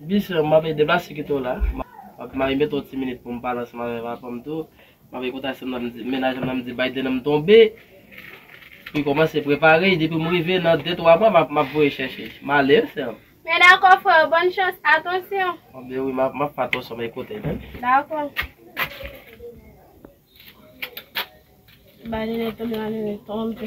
Bichon map edem la si kite w la map mare met yon ti minit poum pale ansanm avèk apanm tou map ekoute aksyon nan m di mennaj lan nan m di Biden nan m tonbe li kòmanse prepare depi m rive nan 2 3 mwa map voye chèche male wi sèm. Men dakò freo bòn chans atansyon. Anbyen wi map fè atansyon map ekoute l wi. Dakò. Biden nan tonbe nan m tonbe.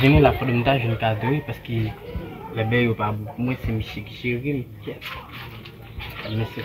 Jenny la foto m ta jwenn kado wi paske bèbè yo pa bon pou mwen se misye ki jere m kyèt mesi.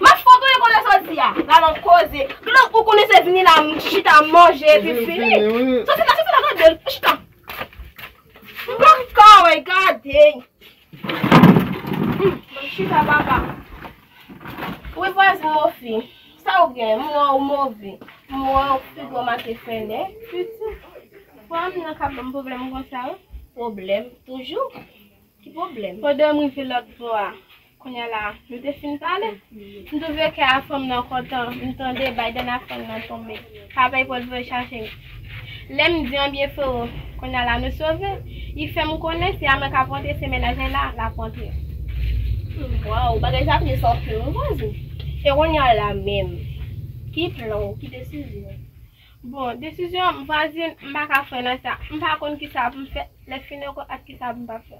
Mach kote ou ye konnen sa w di a? La nan koze. Kote ou konnen se vini la chita manje epi fini. Soti la soti la gade l. Chita. M pa ka wè gade. Mach chita papa. Ou e vwazin mou fi. Sa ou gen? M wè ou move. M wè ou pi gwo make fèlè. Piti. Pwa m nan kap banm pwoblèm konsa wi. Pwoblèm toujou. Ki pwoblèm? Pandan m rive lòt bò a, kounya la nou te fin pale, m twouve kè a fanm nan kontan, m tande Biden a fanm nan tonbe, pa pèy pòt voye chache m. Lè m di anbyen frero, kounya la nou sove, li fè m konnen se a mwen k ap rantre se mennaj mwen la l ap rantre. Waww bagay sa ap vin san fen wi vwazen. E kounya la menm, ki plan ou, ki desizyon ou? Bon desizyon m vwazin m pa ka fre nan sa m pa konn kisa pou m fè lè fin ekol ak kisa pou m pa fè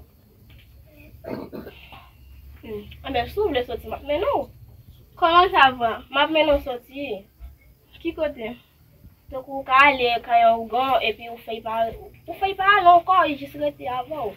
anben si w vle soti m ap mennen w kòman sa va m ap mennen w soti ki kote tankou w ka ale kay yon ougan epi ou fey pa ale ou fey pa ale ankò ou jis rete avè w.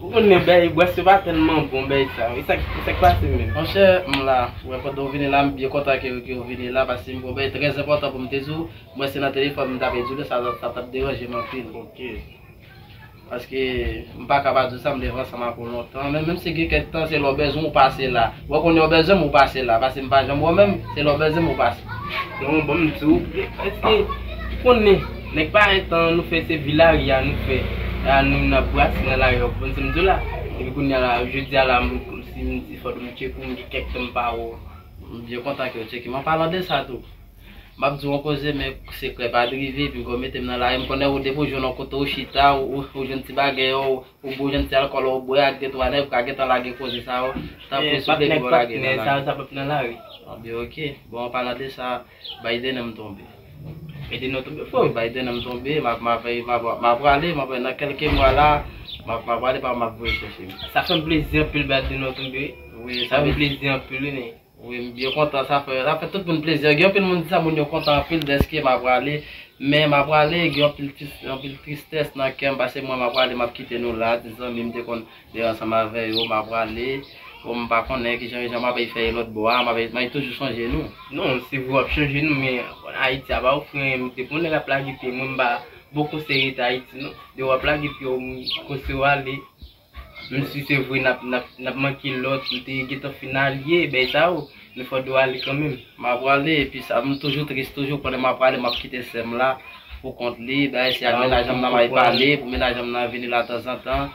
Ou konn men bèy bwè se pa tèlman bon bèy sa yo. E sa k pase menm? Monchè, m la. Ou wè pandan ou vini la, m byen kontan ke ou vini la paske m gen yon bèy trè enpòtan pou m te di w. Mwen se nan telefòn m ta pe di w li, sa t ap deranje m anpil. Ok. Paske m pa ka pa di w sa, m te vle ansanm ak ou lontan. Men menm si gen kèk tan, se lè w bezwen w pase la. Wè kounye a w bezwen m, ou pase la. Paske m pa janm wè w menm, se lè w bezwen m ou pase. Bon, bon m di w. Èske ou konnen. Nèg pa entan nou fè se vilaria nou fè la nou nan brase nan lari ou konprann sam diw la epi kounya la jodia la sim di fòk m tcheke ou m gen kèk tan m pa wè w m byen kontan kew tcheke m an palan de sa tou map diw yon koze men sekrè pa drive epi fòw metem nan lari m konnen ou depiw jwenn yon kote ou chita ou jwenn ti bagèy ou ou bwè w jwenn ti alkòl ou bwè ak de twa nèg ou ka gentan lage koze sa yo tanpri sou pye pou w lage nan lari sa pap nan lari m di ok bon an palan de sa. Biden an m tonbe. Biden an tonbe freo Biden an m tonbe ma ma fèy ma pra ma prale ma prale nan kelke mwa la ma ma prale pa ma voye chèche m. Sa fèm plezi anpil Biden an tonbe wi sa fèm plezi anpil wi wi m byen kontan sa fè sa fè tout moun plezi gen anpil moun di sa moun yo kontan anpil dèske ma prale men ma prale gen anpil anpil tristès nan kèm pase mwen ma prale map kite nou la de zanmi m te konn Lè ansanm avè yo m'a prale. O m pa konnen ki jan jan m ape fè ye lòt bò a, m ape mwen toujou sonje nou. Non, se vre w ap sonje nou men Ayiti a ba ou fren, depi yon nèg ap lage pye mwen m pa bon konsèy rete Ayiti non. Depi w ap lage pye w m konseye w ale. Menm si se vre n'ap n'ap n'ap manke lòt ou te gentan fin alye bèy sa yo, men fò do ale kanmenm. M'a prale epi sa m toujou tris toujou konnen m'a prale m'ap kite sè m la pou kont li, dayè si ak menaj an m nan m ape pale pou menaj an m nan vini la tanzantan,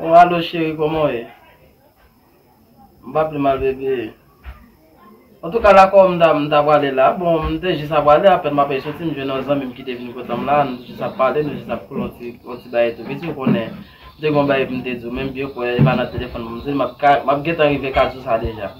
Oh allo chérie koman w ye? M pa pi mal bébé. Antouka lakò m ta m ta prale la, bon m te jis aprale apèn m ape soti m jwenn yon zanmi m ki te vini pote m la, nou jis ap pale nou jis ap koule yon ti yon ti bagay tou pitit ou konnen m te gen yon bagay pou m te di w men m byen kwè e pa nan telefòn pou m di l m ap ka m ap gentan rive Kazou sa deja.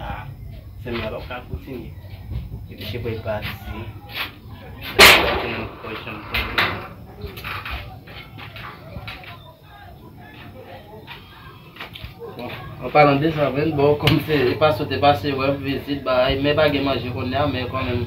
A, sèm la pap ka kontinye. Epi chebre l pati. An palan de sa menm, bon kòm se e pa sot e pa se wèm, vizit bay, men pa gen manje kounya men kòm menm.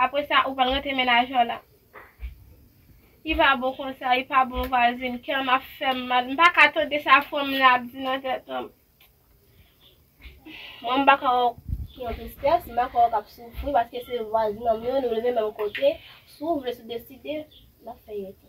Apre sa ou pral rete menajè w la. Li pa bon konsa, li pa bon vwazin, kè m ap fè m mal, m pa ka tande sa frè m lan ap di nan tèt mwen. Mwen m pa ka wè w sou yon tristès, m pa ka wè w k ap soufri paske se vwazinanm yo, nou leve menm kote, si w vle, si w deside, n ap fè yon ti.